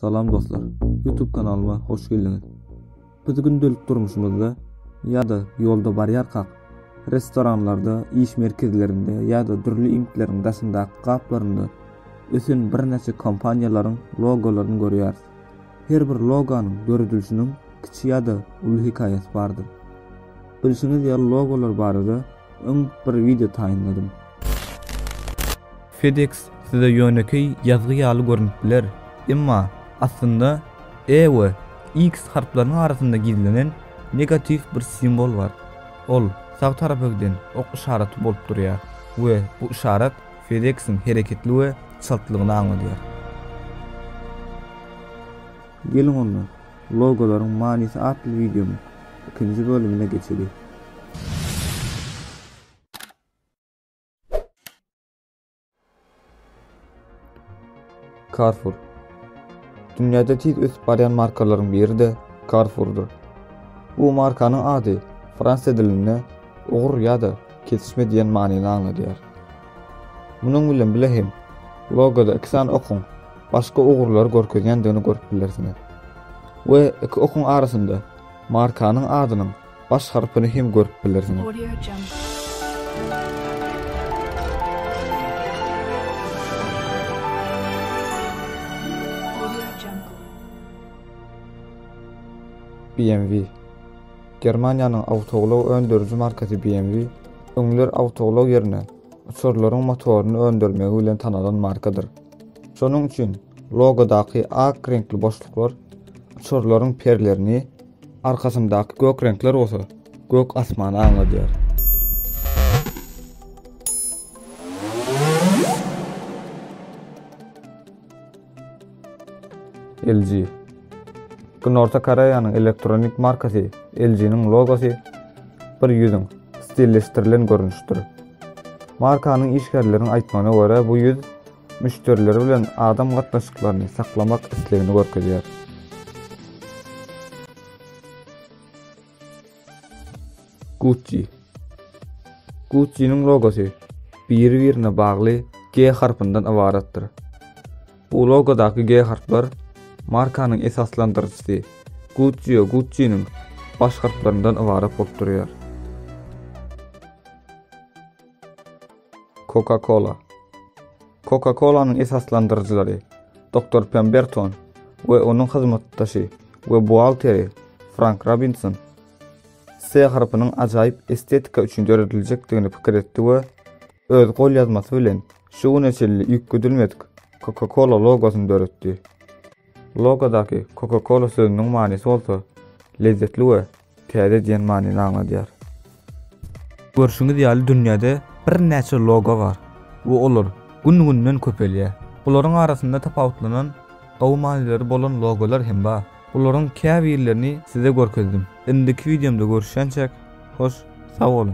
Salam dostlar. Youtube kanalyma hoş geldiňiz. Biz gündelik durmuşymyzda ýa-da ýolda barýarkak, restoranlarda, iş merkezlerinde ýa-da dürli iňkleriň daşyndaky gaplarynda ösen birnäçe kompaniýalaryň logolaryny görýäris. Her bir loganyň döredilişiniň kiçi ýa-da uly hekaýasy bardyr. Bilşiňiz ýaly logolar barada Öň bir wideo taýynladym. FedEx size ýönekeý ýazgy ýaly görnüp biler, emma aslynda E we X harplarynyň arasynda gizlenen negatiw bir simbol bar. Ol sag tarapa giden ok yşaraty bolup durýar we bu yşarat FedEx-iň hereketli we çaltlygyny aňladýar. Geliň onda, Logolaryň manysy atly wideomyň ikinji bölümine geçeliň. Carrefour. Dünýäde tiz ösüp barýan markalaryň biri-de Carrefour-dur. Bu markanyň ady frans dilinde ugur ýa-da kesişme diýen manyny aňladýar. Munuň bilen bile hem logoda iki sany okuň başga ugurlary görkezýändigini görüp bilersiňiz we iki okuň arasynda markanyň adynyň baş harpyny hem görüp bilersiňiz. BMW Germaniýanyň awtoulag öndüriji markasy BMW öňler awtoulag ýerine uçarlaryň motoryny öndürmegi bilen tanalan markadyr. Şonuň üçin logodaky ak reňkli boşluklar uçarlaryň perlerini, arkasyndaky gök reňkler bolsa gök asmany aňladýar. LG Günorta Koreýanyň elektronik markasy LG-niň logosy bir ýüzüň stilleşdirilen görnüşdir. Markanyň işgärleriniň aýtmagyna görä, bu ýüz müşderileri bilen adam gatnaşyklaryny saklamak islegini görkezýär. Gucci Gucci-niň logosy biri-birine bagly G harpyndan ybaratdyr. Bu logodaky G harplar markanyň esaslandyryjysy Guccio Gucciniň baş harplaryndan ybarat bolup durýar. Coca-Cola Coca-Colanyň esaslandyryjylary Doktor Pemberton we onuň hyzmatdaşy we buhgalteri Frank Robinson S harpynyň ajaýyp estetika üçin dörediljekdigini pikir etdi we öz golýazmasy bilen Şu güne çenli üýtgedilmedik Coca-Cola logosyny döretdi. Logodaky Coca-Cola sözüniň manysy bolsa lezzetli we täze diýen manyny aňladýar. Görşüňiz ýaly dünýäde birnäçe logo bar we olar gün-günden köpelýär. Bularyň arasynda tapawutlanan gowy manylyry bolan logolar hem bar. Bularyň käbirlerini size görkezdim. Indiki wideomda görüşýänçäk, hoş sag boluň!